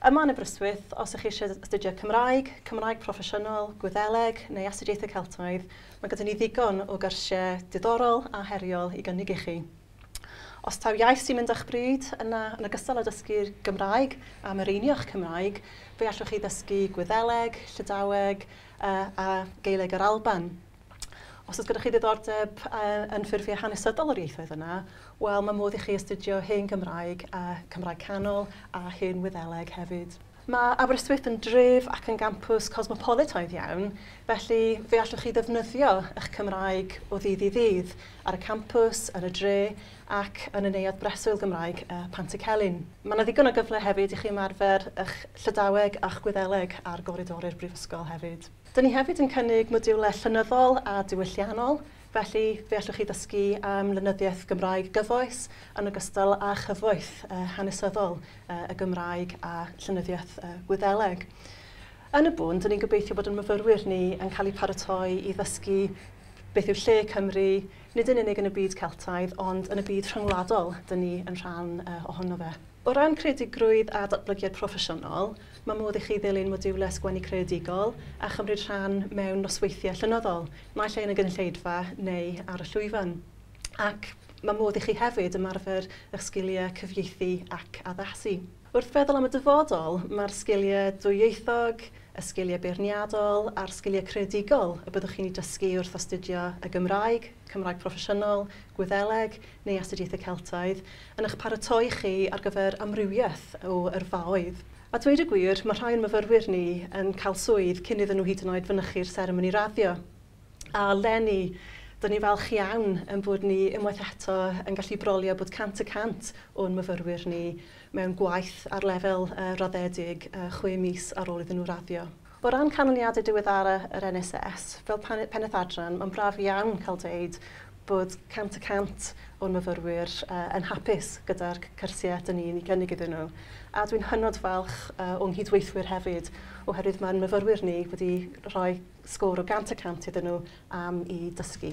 Yma yn Aberystwyth, os ych chi eisiau astudio Cymraeg, Cymraeg Proffesiynol, Gwyddeleg neu Astudiaethau Celtaidd, mae gyda ni ddigon o gyrsiau diddorol a heriol i gynnig i chi. Os taw iaith sy'n mynd â'ch bryd, yna yn ogystal â dysgu'r Gymraeg a mireinio'ch Cymraeg, fe allwch chi ddysgu Gwyddeleg, Llydaweg a Gaeleg yr Alban. Os oes gyda chi ddiddordeb yn ffurfiau hanesyddol o'r ieithoedd yna, wel, mae modd i chi astudio hen Gymraeg, a Cymraeg Canol a hen Wyddeleg hefyd. Mae Aberystwyth yn dref ac yn gampws cosmopolitaidd iawn, felly fe allwch chi ddefnyddio eich Cymraeg o ddydd i ddydd ar y campws, yn y dre ac yn y Neuadd Breswyl Gymraeg Pantycelyn. Mae yna ddigon o gyfle hefyd i chi ymarfer eich Llydaweg a'ch Gwyddeleg ar goridori'r Brifysgol hefyd. Dyn ni hefyd yn cynnig modiwlau llenyddol a diwylliannol, felly fe allwch chi ddysgu am lenyddiaeth Gymraeg gyfoes yn ogystal â chyfoeth hanesyddol y Gymraeg a llenyddiaeth Gwyddeleg. Yn y bôn, dyn ni'n gobeithio bod ein myfyrwyr ni yn cael eu paratoi i ddysgu beth yw lle Cymru, nid yn unig yn y byd Celtaidd, ond yn y byd rhyngwladol dyn ni yn rhan ohono fe. O ran creadigrwydd a datblygiad proffesiynol, mae modd i chi ddilyn modiwlau sgwennu creadigol a chymryd rhan mewn nosweithiau llenyddol, naill ai yn y gynulleidfa neu ar y llwyfan. Ac mae modd i chi hefyd ymarfer eich sgiliau cyfieithu ac addasu. Wrth feddwl am y dyfodol, mae'r sgiliau dwyieithog, y sgiliau beirniadol a'r sgiliau creadigol y byddwch chi'n eu dysgu wrth astudio y Gymraeg, Cymraeg Proffesiynol, Gwyddeleg, neu Astudiaethau Celtaidd, yn eich paratoi chi ar gyfer amrywiaeth o yrfaoedd. A dweud y gwir, mae rhai o'n myfyrwyr ni yn cael swydd cyn iddyn nhw hyd yn oed fynychu'r seremoni raddio. A leni, dŷn ni'n falch iawn ein bod ni unwaith eto yn gallu brolio bod 100 y cant o'n myfyrwyr ni mewn gwaith ar lefel raddedig chwe mis ar ôl iddyn nhw raddio. O ran canlyniadau diweddara yr NHS, fel Pennaeth Adran, mae'n braf iawn cael dweud bod 100 y cant o'n myfyrwyr yn hapus gyda'r cyrsiau dyn ni'n ei gynnig iddyn nhw. A dwi'n hynod falch o'n nghydweithwyr hefyd, oherwydd mae'n myfyrwyr ni wedi rhoi sgôr o 100 y cant iddyn nhw am i dysgu.